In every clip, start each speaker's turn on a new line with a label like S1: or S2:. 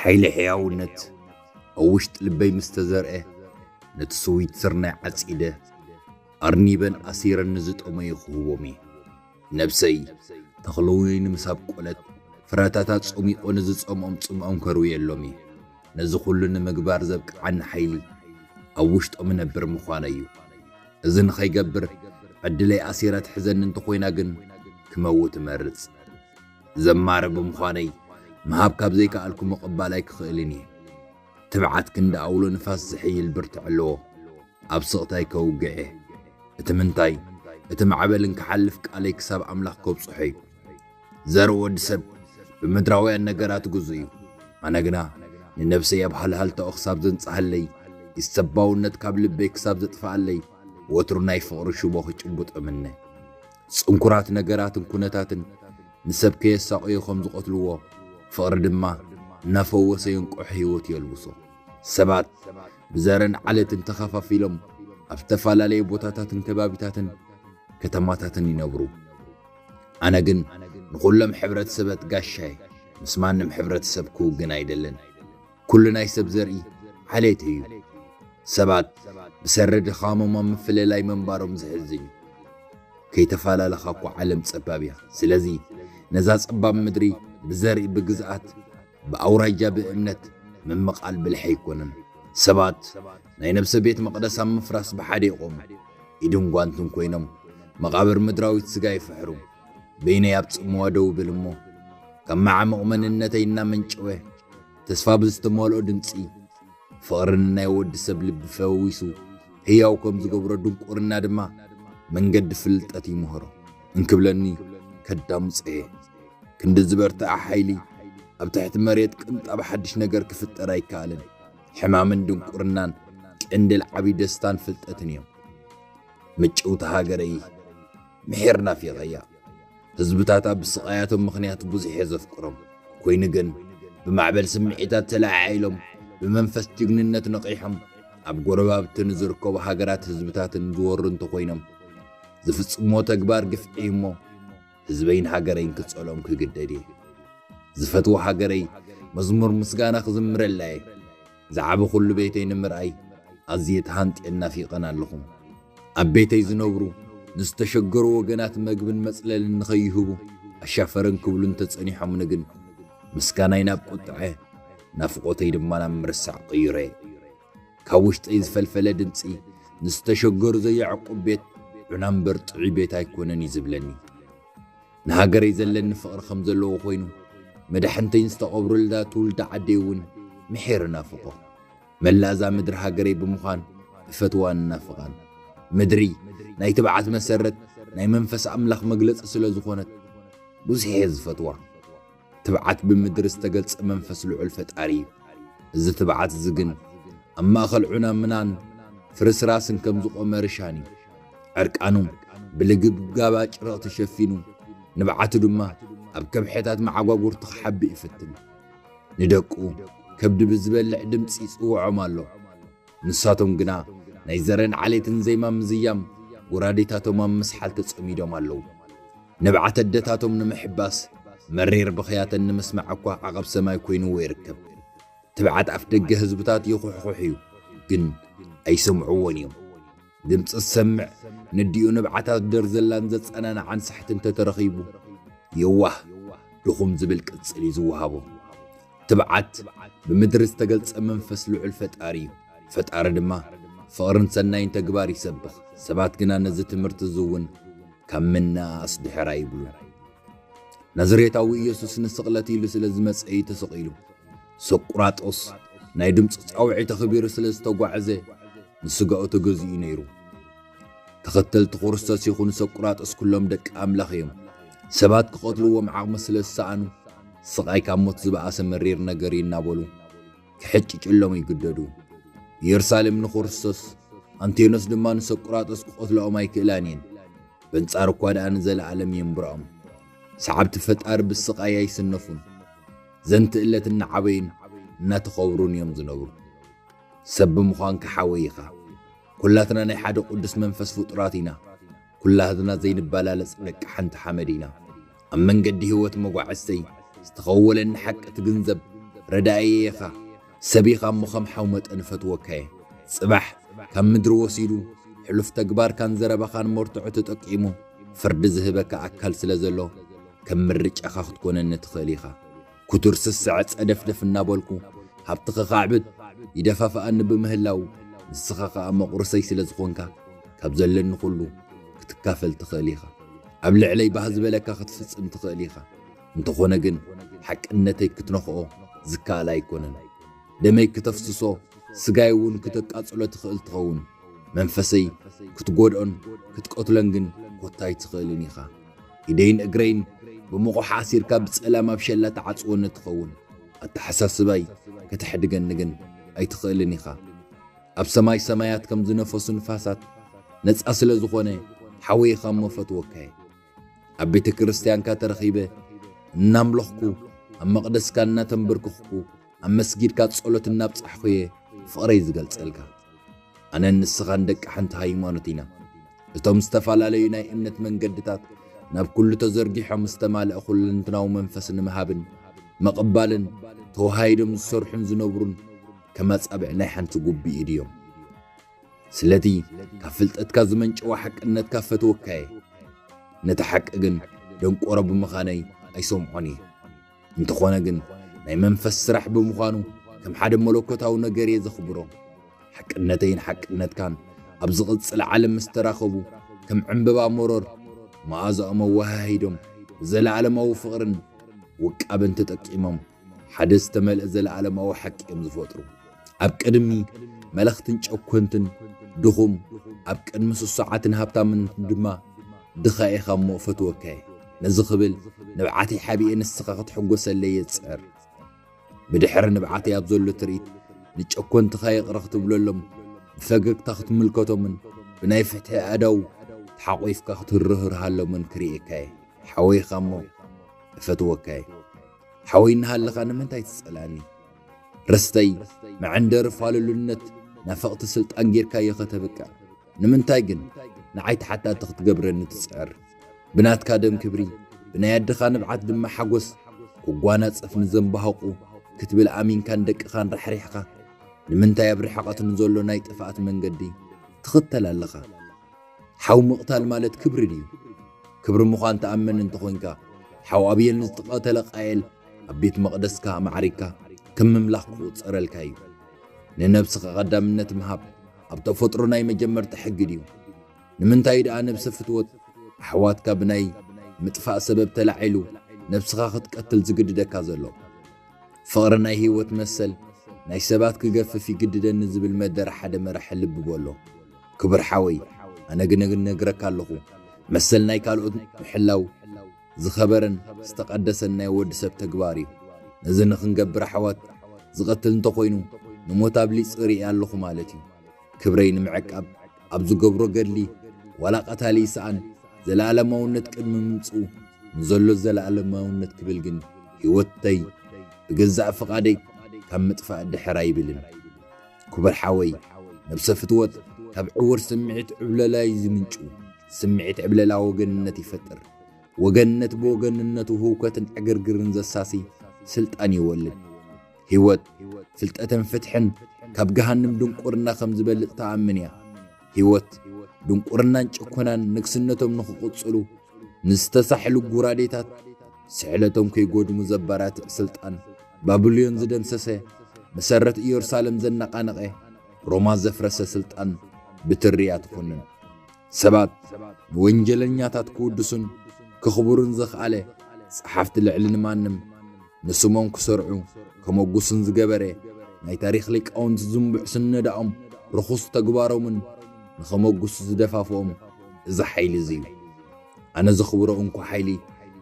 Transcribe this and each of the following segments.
S1: ሓይሊ ሕያውነት ኣብ ውሽጢ ልበይ ምስ ተዘርኤ ነቲ ስዊት ስርናይ ዓጺደ ኣርኒበን ኣሲረን ንዝጠመዩ ክህቦም እየ። ነብሰይ ተኽሊ ወይኒ ምስ ኣብቆለት ፍረታታ ጾሚቆ ንዝጸምኦም ጽምኦም ከርውየሎም እየ። ነዚ ኩሉ ንምግባር ዘብቅዓኒ ሓይሊ ኣብ ውሽጦም እነብር ምዃነይ እዩ። እዚ ንኸይገብር ዕድለይ ኣሲራ ትሕዘኒ እንተኾይና ግን ክመውት እመርጽ። ዘማሪ ብምዃነይ ምሃብ ካብ ዘይከኣልኩ ምቕባል ኣይክኽእልን እየ። ትብዓት ክንዲ ኣውሎ ንፋስ ዝሕይል ብርትዐ ኣለዎ። ኣብ ስቕታይ ከውግዕ እየ። እቲ ምንታይ እቲ ማዕበል እንክሓልፍ ቃለይ ክሳብ ኣምላኽ ከብጽሖ እዩ። ዘርኢ ወዲ ሰብ ብምድራውያን ነገራት ግዙእ እዩ። ኣነ ግና ንነብሰይ ኣብ ሃልሃልታኡ ክሳብ ዘንጽሃለይ፣ ኢሰባውነት ካብ ልበይ ክሳብ ዘጥፍኣለይ ወትሩ ናይ ፍቕሪ ሽቦ ክጭብጦ እምነ። ጽንኩራት ነገራትን ኩነታትን ንሰብ ከየሳቕዮ ከም ዝቐትልዎ፣ ፍቕሪ ድማ እናፈወሰ የንቅሖ ህይወት የልብሶ። ሰባት ብዘርን ዓሌትን ተኸፋፊሎም ኣብ ዝተፈላለየ ቦታታትን ከባቢታትን ከተማታትን ይነብሩ። ኣነ ግን ንኹሎም ሕብረተሰበት ጋሻየ፣ ምስ ማንም ሕብረተሰብ ክውግን ኣይደልን። ኩሉ ናይ ሰብ ዘርኢ ዓሌት እዩ። ሰባት ብሰሪ ድኻሞም ኣብ ምፍልላይ ምንባሮም ዝሕዝን እዩ። ከይተፈላለኻ እኳ ዓለም ጸባብ እያ። ስለዚ ነዛ ጸባብ ምድሪ ብዘርኢ፣ ብግዝኣት፣ ብኣውራጃ፣ ብእምነት ምምቓል ብልሒ ኣይኮነን። ሰባት ናይ ነብሰ ቤት መቕደስ ኣብ ምፍራስ ብሓደ ይቖሙ፣ ኢድን ጓንትን ኮይኖም መቓብር ምድራዊት ስጋ ይፍሕሩ። በይነይ ኣብ ጽምዋ ደው ብል እሞ ካብ መዓሙቕ መንነተይ እናመንጨወ ተስፋ ብዝተመልኦ ድምፂ ፍቕሪ ንናይ ወዲ ሰብ ልቢ ፈዊሱ ህያው ከም ዝገብሮ ድንቁርና ድማ መንገዲ ፍልጠት ይምህሮ እንክብለኒ ከዳምፆ እየ ክንዲ ዝበርትዐ ሓይሊ ኣብ ትሕቲ መሬት ቅንጣብ ሓድሽ ነገር ክፍጠር ኣይከኣልን ሕማምን ድንቁርናን ቅንድል ዓብዪ ደስታን ፍልጠትን እዮም መጨውቲ ሃገረይ ምሒር ናፊቐያ ህዝብታታ ብስቓያቶም ምኽንያት ብዙሕ እየ ዘፍቅሮም ኮይኑ ግን ብማዕበል ስምዒታት ተለዓዒሎም ብመንፈስ ጅግንነት ነቒሖም ኣብ ጎረባብቲ ንዝርከቡ ሃገራት ህዝብታትን ዝወሩ እንተኾይኖም ዝፍጽሞ ተግባር ግፍዒ እሞ ህዝበይን ሃገረይን ክጸሎም ክግደድ እየ ዝፈትዎ ሃገረይ መዝሙር ምስጋና ክዝምረላ እየ ዝዓቢ ኩሉ ቤተይ ንምርኣይ ኣዝየ ተሃንጥየን ናፊቐን ኣለኹ። ኣብ ቤተይ ዝነብሩ ንዝተሸገሩ ወገናት መግብን መጽለልን ንኸይህቡ ኣሻፈረን ክብሉ እንተጸኒሖምኒ ግን ምስጋናይ ናብ ቁጥዐ ናፍቖተይ ድማ ናብ ምርሳዕ ቀይረዮ። ካብ ውሽጠይ ዝፈልፈለ ድምጺ ንዝተሸገሩ ዘየዕቁብ ቤት ዑና'ምበር ጥዑይ ቤት ኣይኮነን እዩ ዝብለኒ። ንሃገረይ ዘለኒ ፍቕሪ ከም ዘለዎ ኮይኑ፣ መዳሕንተይን ዝተቐብረሉዳ ትውልዲ ዓደይ እውን ምሒር እናፍቖ። መላእ እዛ ምድሪ ሃገረይ ብምዃን እፈትዋን እናፍቓን። ምድሪ ናይ ትብዓት መሰረት፣ ናይ መንፈስ ኣምላኽ መግለጺ ስለ ዝኾነት ብዙሕ እየ ዝፈትዋ። ትብዓት ብምድሪ ዝተገልጸ መንፈስ ልዑል ፈጣሪ እዩ። እዚ ትብዓት እዚ ግን ኣብ ማእኸል ዑና ምናን ፍርስራስን ከም ዝቖመ ርሻን እዩ። ዕርቃኑ ብልግብጋብ ኣጭርቕ ተሸፊኑ፣ ንብዓቱ ድማ ኣብ ከብሕታት መዓጓጉርቱ ክሓብእ ይፍትን። ንደቁ ከብዲ ብዝበልዕ ድምጺ ይጽውዖም ኣሎ። ንሳቶም ግና ናይ ዘረን ዓሌትን ዜማ ምዝያም ጎራዴታቶም ኣብ ምስሓል ተጸሚዶም ኣለዉ። ንብዓት ኣደታቶም ንምሕባስ መሪር ብኽያተን ንምስማዕ እኳ ዓቐብ ሰማይ ኮይንዎ ይርከብ። ትብዓት ኣፍደገ ህዝብታት ይኹሕኹሕ እዩ፣ ግን ኣይሰምዕዎን እዮም። ድምፂ ዝሰምዕ ነዲኡ ንብዓታት ደርዘላን ዘፀናንዓን ሳሕቲ እንተተረኺቡ የዋህ ድኹም ዝብል ቅፅል እዩ ዝወሃቦ። ትብዓት ብምድሪ ዝተገልፀ መንፈስ ልዑል ፈጣሪ እዩ። ፈጣሪ ድማ ፍቕርን ሰናይን ተግባር ይሰብኽ። ሰባት ግና ነዚ ትምህርቲ እዚ እውን ካብ ምንእኣስ ድሕር ኣይብሉን። ናዝሬታዊ ኢየሱስ ንስቕለት ኢሉ ስለ ዝመጸ እዩ ተሰቒሉ። ሶቁራጦስ ናይ ድምፂ ጻውዒት ኣኽቢሩ ስለ ዝተጓዕዘ ንስጋኡ ተገዚኡ ነይሩ። ተኸተልቲ ክርስቶስ ይኹን ሶቁራጦስ ኩሎም ደቂ ኣምላኽ እዮም። ሰባት ክቐትልዎም ዓቕሚ ስለ ዝሰኣኑ ስቓይ ካብ ሞት ዝበኣሰ መሪር ነገር እዩ እናበሉ ክሕጭጭሎም ይግደዱ። ኢየሩሳሌም ንክርስቶስ፣ ኣንቴኖስ ድማ ንሶቁራጦስ ክቐትልኦም ኣይክእላን እየን። በንጻር እኳ ደኣ ንዘለዓለም የንብሮም ሰዓብቲ ፈጣሪ ብስቓይ ኣይስነፉን ዘንቲ እለት እናዓበዩን እናተኸብሩን እዮም ዝነብሩ ሰብ ብምዃንካ ሓወይ ኢኻ ኩላትና ናይ ሓደ ቅዱስ መንፈስ ፍጡራት ኢና ኩላትና ዘይንበላለጽ ደቂ ሓንቲ ሓመድ ኢና ኣብ መንገዲ ህይወት መጓዕዝተይ ዝተኸወለኒ ሓቂ ትግንዘብ ረዳኢየ ኢኻ ሰብ ኢኻ እሞ ከም ሓው መጠን እፈትወካየ ጽባሕ ካብ ምድሪ ወሲዱ ሕሉፍ ተግባርካን ዘረባኻን መርትዖ ተጠቂሙ ፍርዲ ዝህበካ ኣካል ስለ ዘሎ ከም ምርጫኻ ክትኮነኒ ትኽእል ኢኻ ኩቱር ስስዐ ጸደፍደፍ እናበልኩ ሃብቲ ከኻዕብት ይደፋፍኣኒ ብምህላዉ፣ ንስኻ ከኣ መቑርስይ ስለ ዝኾንካ፣ ካብ ዘለኒ ኩሉ ክትካፈል ትኽእል ኢኻ። ኣብ ልዕለይ ባህ ዝበለካ ክትፍጽም ትኽእል ኢኻ። እንተኾነ ግን ሓቅነተይ ክትነኽኦ ዝከኣል ኣይኮነን። ደመይ ክተፍስሶ ስጋይ እውን ክተቃጽሎ ትኽእል ትኸውን። መንፈሰይ ክትጎድኦን ክትቀትሎን ግን ኮታ ኣይትኽእልን ኢኻ። ኢደይን እግረይን ብሙቑሕ ኣሲርካ ብጸላም ኣብ ሸላ ትዓጽወኒ ትኸውን። ኣተሓሳስባይ ከተሕድገኒ ግን ኣይትኽእልን ኢኻ። ኣብ ሰማይ ሰማያት ከም ዝነፈሱ ንፋሳት ነጻ ስለ ዝኾነ ሓወይኻ እሞ እፈትወካ'የ። ኣብ ቤተ ክርስትያንካ ተረኺበ እናምለኽኩ ኣብ መቕደስካ እናተምብርክኽኩ፣ ኣብ መስጊድካ ጸሎት እናብጻሕኹ'የ ፍቕረይ ዝገልጸልካ። ኣነን ንስኻን ደቂ ሓንቲ ሃይማኖት ኢና። እቶም ዝተፈላለዩ ናይ እምነት መንገድታት ናብ ኩሉ ተዘርጊሖም ዝተማልኣ ኩለንትናዊ መንፈስ ንምሃብን ምቕባልን ተወሃሂዶም ዝሰርሑን ዝነብሩን ከም ኣጻብዕ ናይ ሓንቲ ጉቢ ኢድ እዮም። ስለቲ ካብ ፍልጠትካ ዝመንጨወ ሓቅነትካ ፈትወካ'የ። ነቲ ሓቂ ግን ደንቆሮ ብምኻነይ ኣይሰምዖን እየ። እንተኾነ ግን ናይ መንፈስ ስራሕ ብምዃኑ ከም ሓደ መለኮታዊ ነገር እየ ዘኽብሮ ሓቅነተይን ሓቅነትካን ኣብ ዝቕጽል ዓለም ምስ ተራኸቡ ከም ዕምበባ መሮር መኣዛኦም ኣወሃሂዶም ዘለዓለማዊ ፍቕርን ውቃበን ተጠቂሞም ሓደ ዝተመልአ ዘለዓለማዊ ሓቂ እዮም ዝፈጥሩ ኣብ ቅድሚ መለኽትን ጨኮንትን ድኹም ኣብ ቅድሚ ስሱዓትን ሃብታምን ድማ ድኻ ኢኻ እሞ ፈትወካየ ነዚ ክብል ንብዓተይ ሓቢኤ ንስኻ ክትሕጎሰለይ የጽዕር። ብድሕሪ ንብዓተይ ኣብ ዘሎ ትርኢት ንጨኮንትኻ ይቕረ ክትብለሎም፣ ብፈገግታ ክትምልከቶምን ብናይ ፍትሒ ኣእዳው ተሓቝፍካ ክትርህርሃሎምን ክርእየካ እየ። ሓወይኻ እሞ እፈትወካ እየ። ሓወይ እናሃለኻ ንምንታይ ትጸልኣኒ? ርስተይ፣ መዐንደሪ ፋልሉነት፣ ናፈቕቲ ስልጣን ጌርካዮ ከተብቅዕ ንምንታይ ግን ንዓይ ተሓታቲ ክትገብረኒ ትጽዕር? ብናትካ ደም ክብሪ፣ ብናይ ኣደኻ ንብዓት ድማ ሓጎስ ክጓናጸፍ ንዘምባህቑ ክትብል ኣሚንካን ደቅኻን ራሕሪሕኻ፣ ንምንታይ ኣብ ርሕቐት ንዘሎ ናይ ጥፍኣት መንገዲ ትኽተል ኣለኻ? ሓው ምቕታል ማለት ክብሪ ድዩ? ክብሪ ምዃን ትኣምን እንተኾንካ፣ ሓው ኣብየል ንዝተቐተለ ቃየል ኣብ ቤት መቕደስካ ኣማዕሪግካ ከም ምምላኽ ክቑጸረልካ እዩ። ንነብስኻ ቀዳምነት ምሃብ ኣብ ተፈጥሮ ናይ መጀመርታ ሕጊ ድዩ? ንምንታይ ደኣ ነብሰ ፍትወት ኣሕዋትካ ብናይ ምጥፋእ ሰበብ ተላዒሉ ነብስኻ ክትቀትል ዝግድደካ ዘሎ? ፍቕሪ ናይ ህይወት መሰል ናይ ሰባት ክገፍፍ ይግድደኒ ዝብል መደረ ሓደ መራሒ ልቢ በሎ። ክቡር ሓወይ ኣነ ግን ነግረካ ኣለኹ መሰል ናይ ካልኦት ምሕላው ዝኸበረን ዝተቐደሰን ናይ ወዲ ሰብ ተግባር እዩ። ነዚ ንኽንገብር ኣሕዋት ዝቐትል እንተኾይኑ ንሞት ኣብሊፅ ሪኤ ኣለኹ ማለት እዩ። ክብረይ ንምዕቃብ ኣብ ዝገብሮ ገድሊ ዋላ ቀታሊ ይስኣን ዘለኣለማውነት ቅድሚ ምምፅኡ ንዘሎ ዘለኣለማውነት ክብል ግን ህይወተይ ብገዛእ ፍቓደይ ካብ ምጥፋእ ድሕር ኣይብልን። ክቡር ሓወይ ነብሰ ፍትወት ካብ ዕውር ስምዒት ዕብለላ እዩ ዝምንጩ። ስምዒት ዕብለላ ወገንነት ይፈጥር። ወገንነት ብወገንነቱ ህውከትን ዕግርግርን ዘሳሲ ስልጣን ይወልድ። ህይወት ፍልጠትን ፍትሕን ካብ ገሃንም ድንቁርና ከም ዝበልጽ ትኣምን እያ። ህይወት ድንቁርናን ጭኮናን ንግስነቶም ንኽቕጽሉ ንዝተሳሕሉ ጉራዴታት ስሕለቶም ከይጎድሙ ዘባራትዕ ስልጣን ባብልዮን ዝደምሰሰ መሰረት ኢየሩሳለም ዘነቓነቐ ሮማ ዘፍረሰ ስልጣን ብትሪ እያ ትኹንን። ሰባት ንወንጀለኛታት ክውድሱን ክኽብሩን ዘኽኣለ ጸሓፍቲ ልዕሊ ንማንም ንስሞም ክሰርዑ ከመጉስን ዝገበረ ናይ ታሪኽ ሊቃውንቲ ዝንቡዕ ስነዳኦም ርኹስ ተግባሮምን ንኸመጉሱ ዝደፋፍኦም እዚ ሓይሊ እዚ እዩ። ኣነ ዘኽብሮ እንኮ ሓይሊ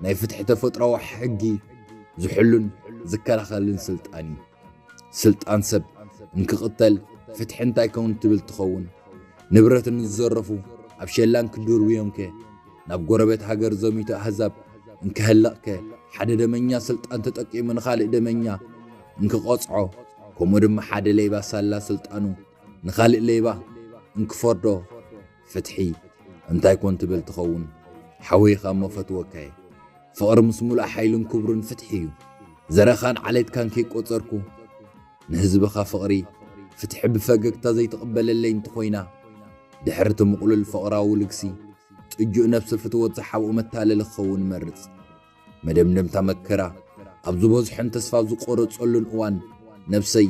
S1: ናይ ፍትሒ ተፈጥሮኣዊ ሕጊ ዝሕሉን ዝከላኸልን ስልጣን እዩ። ስልጣን ሰብ እንክቕተል ፍትሒ እንታይ ኮን ትብል ትኸውን? ንብረት እንዝዘረፉ ኣብ ሸላን ክድርብዮምከ? ናብ ጎረቤት ሃገር ዘሚቱ ኣህዛብ እንክሀልቕከ ሓደ ደመኛ ስልጣን ተጠቂሙ ንኻልእ ደመኛ እንክቐጽዖ ከምኡ ድማ ሓደ ሌባ ሳላ ስልጣኑ ንኻልእ ሌባ እንክፈርዶ ፍትሒ እንታይ ኮን ትብል ትኸውን? ሓወይኻ እሞ ፈትወካየ ፍቕሪ ምስ ሙሉእ ሓይልን ክብሩን ፍትሒ እዩ ዘርእኻን ዓሌትካን ከይቆጸርኩ ንህዝብኻ ፍቕሪ ፍትሒ ብፈገግታ ዘይትቕበለለይ እንተኾይና፣ ድሕሪ እቲ ምቕሉል ፍቕራዊ ልግሲ፣ ጥጁእ ነብሰ ፍትወት ዝሓብኦ መታለሊ ክኸውን እመርጽ። መደምደምታ መከራ ኣብ ዝበዝሖን ተስፋ ኣብ ዝቆረጸሉን እዋን ነብሰይ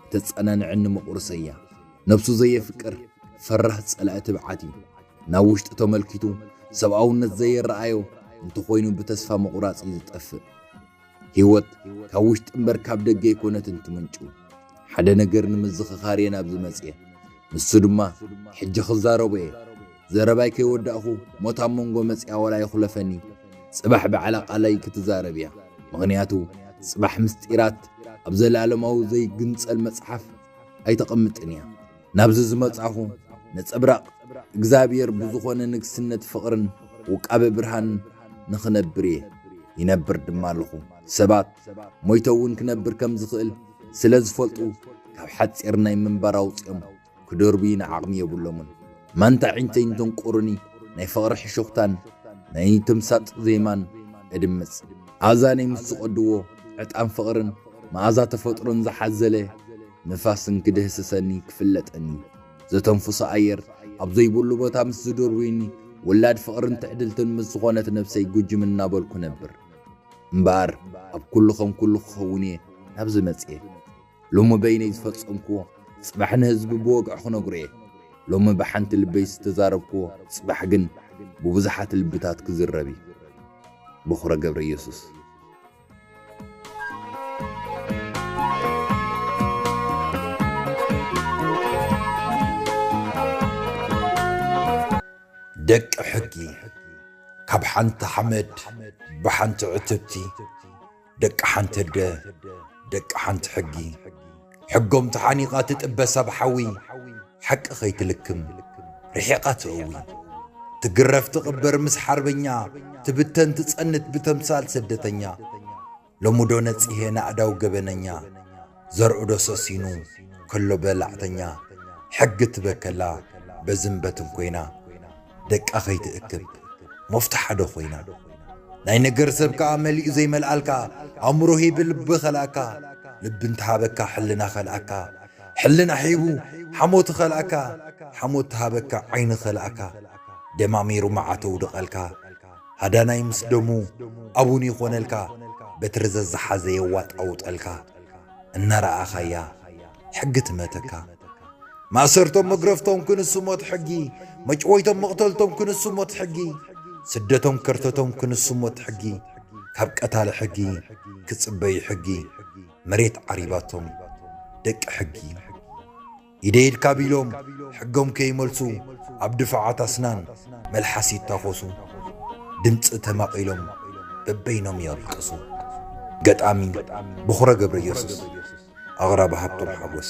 S1: እተጸናንዐኒ መቑርሰይ እያ። ነብሱ ዘየፍቅር ፈራህ ጸላኢ ትብዓት እዩ። ናብ ውሽጢ ተመልኪቱ ሰብኣውነት ዘየረኣዮ እንተኾይኑ ብተስፋ ምቑራጽ እዩ ዝጠፍእ። ህይወት ካብ ውሽጢ እምበር ካብ ደገ ኣይኮነትን ትምንጩ። ሓደ ነገር ንምዝኽኻር እየ ናብዚ መጽየ። ንሱ ድማ ሕጂ ክዛረቦ እየ። ዘረባይ ከይወዳእኹ ሞት ኣብ መንጎ መጽያ ዋላ ይኹለፈኒ ጽባሕ ብዓል ኣቃላይ ክትዛረብ እያ። ምኽንያቱ ጽባሕ ምስጢራት ኣብ ዘለኣለማዊ ዘይግንጸል መጽሓፍ ኣይተቐምጥን እያ። ናብዚ ዝመጻኹ ነጸብራቕ እግዚኣብሔር ብዝኾነ ንግስነት ፍቕርን ውቃበ ብርሃንን ንኽነብር እየ። ይነብር ድማ ኣለኹ። ሰባት ሞይተ እውን ክነብር ከም ዝኽእል ስለ ዝፈልጡ ካብ ሓጺር ናይ ምንባር ኣውጺኦም ክደርብዩኒ ዓቕሚ የብሎምን። ማንታ ዒንተይ እንተንቁሩኒ ናይ ፍቕሪ ሕሹኽታን ናይ ተምሳጥ ዜማን እድምጽ። ኣእዛነይ ምስ ዝቐድዎ ዕጣን ፍቕርን መኣዛ ተፈጥሮን ዝሓዘለ ንፋስን ክድህስሰኒ ክፍለጠኒ ዘተንፍሶ ኣየር ኣብ ዘይብሉ ቦታ ምስ ዝድርብዩኒ ውላድ ፍቕርን ትዕድልትን ምስ ዝኾነት ነብሰይ ጉጅም እናበልኩ ነብር እምበኣር ኣብ ኩሉ ከም ኩሉ ክኸውን እየ ናብዚ መጽየ ሎሚ በይነይ ዝፈጸምክዎ ጽባሕ ንህዝቢ ብወግዒ ክነግሮ እየ ሎሚ ብሓንቲ ልበይ ዝተዛረብክዎ ጽባሕ ግን ብብዙሓት ልብታት ክዝረብ እዩ በኹረ ገብረ ኢየሱስ ደቂ ሕጊ ካብ ሓንቲ ሓመድ ብሓንቲ ዕትብቲ ደቂ ሓንቲ ኣደ ደቂ ሓንቲ ሕጊ ሕጎም ተሓኒቓ ትጥበ ሰብ ሓዊ ሓቂ ከይትልክም ርሒቓ ትእዊ ትግረፍ ትቕበር ምስ ሓርበኛ ትብተን ትጸንት ብተምሳል ስደተኛ ሎምዶ ነጺሄ ናእዳው ገበነኛ ዘርኡዶ ሰሲኑ ከሎ በላዕተኛ ሕጊ ትበከላ በዝን በትን ኮይና ደቃ ከይትእክብ ሞፍታሓዶ ኮይና ናይ ነገር ሰብ ከኣ መሊኡ ዘይመልኣልካ ኣእምሮ ሂቢ ልቢ ከልኣካ ልቢ እንተሃበካ ሕልና ከልኣካ ሕልና ሂቡ ሓሞት ኸልኣካ ሓሞት ትሃበካ ዓይኒ ኸልኣካ ደማሚሩ መዓት ኣውድቐልካ ሃዳናይ ምስ ደሙ ኣቡን ይኾነልካ በትሪ ዘዝሓዘ የዋጣውጠልካ እናረኣኻያ ሕጊ ትመተካ ማእሰርቶም መግረፍቶም ክንሱ ሞት ሕጊ መጭወይቶም መቕተልቶም ክንሱ ሞት ሕጊ ስደቶም ከርተቶም ክንሱ ሞት ሕጊ ካብ ቀታሊ ሕጊ ክጽበዩ ሕጊ መሬት ዓሪባቶም ደቂ ሕጊ ኢደይ ኢድካ ቢሎም ሕጎም ከይመልሱ ኣብ ድፋዓት ኣስናን መልሓስ ይታኾሱ ድምፂ ተማቒሎም በበይኖም የልቅሱ ገጣሚ ቦኽረ ገብረየሱስ ኣቕራቢ ሃብቶም ሓጎስ